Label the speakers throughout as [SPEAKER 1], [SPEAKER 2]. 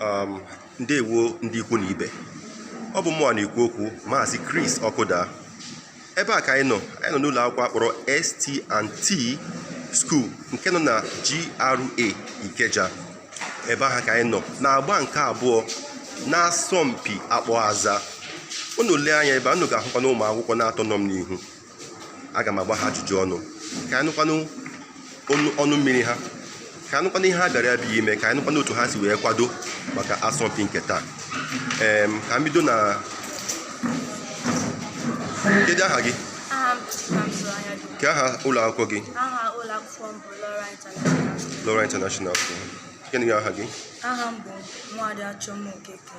[SPEAKER 1] um, ndewo ndị ikwu na ibe ọ bụ mụnwa na-ekwu okwu maazị Chris Ọkụda ebe a ka anyị nọ anyị nọ n'ụlọ akwụkwọ a kpọrọ ST&T School nke nọ na GRA Ikeja ebe ahụ ka anyị nọ na-agba nke abụọ n'asọmpi akpọ aza unu lee anya ebe a unu ga-ahụkwa na ụmụ akwụkwọ na-atọ nọ m n'ihu aga m agba ha ajụjụ ọnụ ka anyị nụkwanụ ọnụ mmiri ha ka anyị nụkwanụ ihe ha bịara ebe a ime ka anyị nụkwanụ otu ha si wee kwado maka asọmpi nke taa ee ka m bido na kedu aha gị kee aha ụlọ akwụkwọ gị aha ụlọ akwụkwọ m bụ Loral International School gịnị aha gị aha m bụ
[SPEAKER 2] Nwaada Chioma Okeke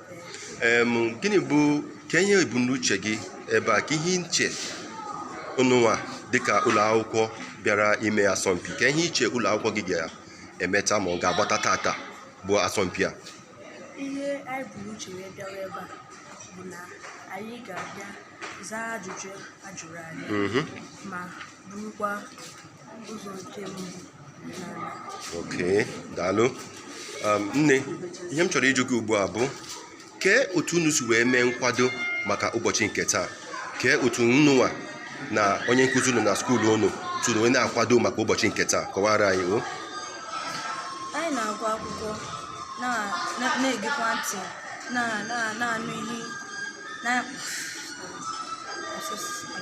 [SPEAKER 1] gịnị bụ kee ihe ebumnuche gị ebe a kee ihe i che unu nwa dịka ụlọ akwụkwọ bịara ime asọmpi kee ihe i che ụlọ akwụkwọ gị ga-emeta ma ọ ga-agbata tata bụ asọmpi a ihe
[SPEAKER 2] anyị bu n'uche wee bịawa ebe a bụ na anyị ga-abịa zaa ajụjụ a jụrụ anyị mhm. ma burukwa
[SPEAKER 1] oke daalụ um, nne ihe m chọrọ ịjụ gị ugbu a bụ kee otu unu si wee mee nkwado maka ụbọchị nke taa kee otu unu nwa na onye nkụzi unu na skuulu unu siri wee na-akwado maka ụbọchị nke taa kọwara anyị
[SPEAKER 2] o anyị na-agụ akwụkwọ na-egekwa ntị na-anụ ihe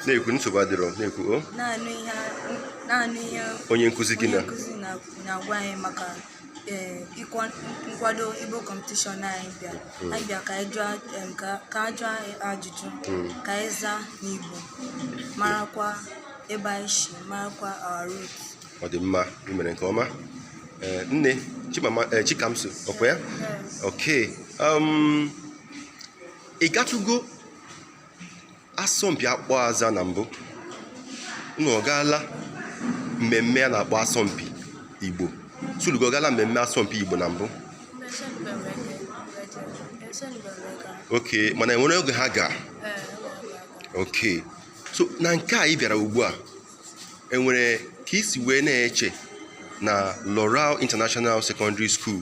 [SPEAKER 1] na-ekwu nsogbu adịrọ na-ekwu
[SPEAKER 2] na-anụ ihe onye nkụzi anyị
[SPEAKER 1] na-agwa
[SPEAKER 2] anyị maka Eh, nkwado igbo competition anyị bịa hmm. anyị bịa ka anyị jụọ ka a jụọ ajụjụ hmm. ka anyị zaa n'igbo marakwa ebe anyị si marakwa our root ọ dị mma
[SPEAKER 1] ị mere nke ọma eh, nne eh, chikamso ọkwa ya oke um, ị gatụgo asọmpi akpọ aza na mbụ unu ọ gaala mmemme a na-akpọ asọmpi igbo skuulu gị ọ gaala mmemme asọmpi igbo na mbụ oke mana enwere oge ha ga oke so na nke a ị bịara ugbu a enwere ka i si wee na-eche na Loral International Secondary School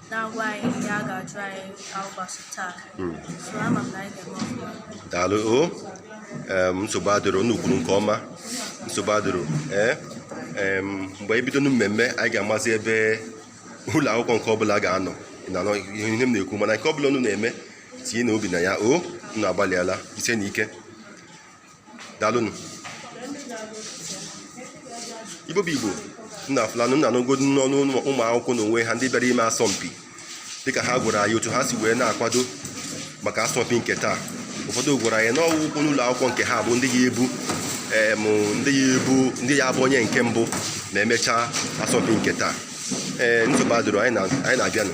[SPEAKER 2] na-agwa anyị ihe a ga-ajụ anyị ụbọchị taa hmm. so ama m na anyị ga-eme
[SPEAKER 1] ọfụma daalụ o nsogbu adịrọ unu kwuru nke ọma nsogbu adịrọ ee eh? mgbe anyị bido na mmemme anyị ga-amazi ebe ụlọ akwụkwọ nke ọbụla ga-anọ na-anụ ihe m na-ekwu mana nke ọbụla unu na-eme tinyenụ obi na ya o unu agbalịala jisienụ ike daalụnụ igbo bụ igbo unu afụlanụ unu anụgodu n'ọnụ ụmụ akwụkwọ na onwe ha ndị bịara ime asọmpi dịka ha gwara anyị otu ha si wee na-akwado maka asọmpi nke taa ụfọdụ gwara anyị na ọ bụkwanụ ụlọ akwụkwọ nke ha bụ ndị ya-ebu em ndị ya-ebu ndị ya-abụ onye nke mbụ ma emechaa asọmpi nke taa ee nsogbu adịrọ anyị na- anyị na-abịanụ